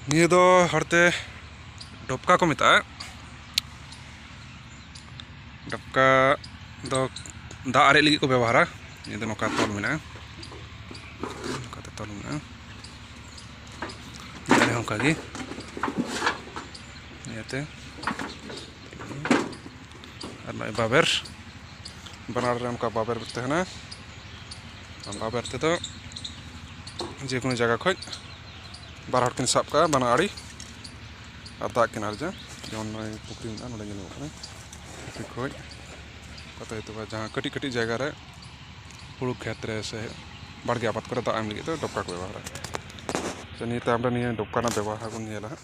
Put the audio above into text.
ᱱᱤᱭᱟᱹ ᱫᱚ ᱦᱚᱲᱛᱮ ᱰᱚᱯᱠᱟ ᱠᱚ ᱢᱮᱛᱟᱜᱼᱟ ᱰᱚᱯᱠᱟ ᱫᱚ ᱫᱟᱜ ᱟᱨᱮᱡ ᱞᱟᱹᱜᱤᱫ ᱠᱚ ᱵᱮᱵᱚᱦᱟᱨᱟ ᱱᱤᱭᱟᱹ ᱫᱚ ᱱᱚᱝᱠᱟ ᱛᱚᱞ ᱢᱮᱱᱟᱜᱼᱟ ᱱᱚᱝᱠᱟᱛᱮ ᱛᱚᱞ ᱢᱮᱱᱟᱜᱼᱟ ᱱᱤᱭᱟᱹ ᱦᱚᱸ ᱚᱱᱠᱟᱜᱮ ᱱᱤᱭᱟᱹᱛᱮ ᱟᱨ ᱱᱚᱜᱼᱚᱭ ᱵᱟᱵᱮᱨ ᱵᱟᱱᱟᱨ ᱨᱮ ᱚᱱᱠᱟ ᱵᱟᱵᱮᱨ ᱛᱟᱦᱮᱱᱟ ᱵᱟᱵᱮᱨ ᱛᱮᱫᱚ ᱡᱮ ᱠᱳᱱᱳ ᱡᱟᱭᱜᱟ ᱠᱷᱚᱡ ᱵᱟᱨ ᱦᱚᱲ ᱠᱤᱱ ᱥᱟᱵ ᱠᱟᱜᱼᱟ ᱵᱟᱱᱟ ᱟᱲᱮ ᱟᱨ ᱫᱟᱜ ᱠᱤᱱ ᱟᱨᱡᱟ ᱡᱮᱢᱚᱱ ᱱᱚᱜᱼᱚᱭ ᱯᱩᱠᱷᱨᱤ ᱢᱮᱱᱟᱜᱼᱟ ᱱᱚᱰᱮ ᱧᱮᱞᱚᱜ ᱠᱟᱱᱟ ᱯᱩᱠᱷᱨᱤ ᱠᱷᱚᱡ ᱠᱟᱛᱮ ᱦᱚᱭᱛᱳ ᱡᱟᱦᱟᱸ ᱠᱟᱹᱴᱤᱡ ᱠᱟᱹᱴᱤᱡ ᱡᱟᱭᱜᱟ ᱨᱮ ᱦᱩᱲᱩ ᱠᱷᱮᱛ ᱨᱮ ᱥᱮ ᱵᱟᱲᱜᱮ ᱟᱵᱟᱫ ᱠᱚᱨᱮ ᱫᱟᱜ ᱮᱢ ᱞᱟᱹᱜᱤᱫ ᱫᱚ ᱰᱚᱠᱠᱟ ᱠᱚ ᱵᱮᱵᱚᱦᱟᱨᱟ ᱥᱮ ᱱᱤᱭᱟᱹ ᱛᱟᱭᱚᱢ ᱨᱮ ᱱᱤᱭᱟᱹ ᱰᱚᱠᱠᱟ ᱨᱮᱱᱟᱜ ᱵᱮᱵᱚᱦᱟᱨ ᱵᱚᱱ ᱧᱮᱞᱟ ᱦᱟᱸᱜ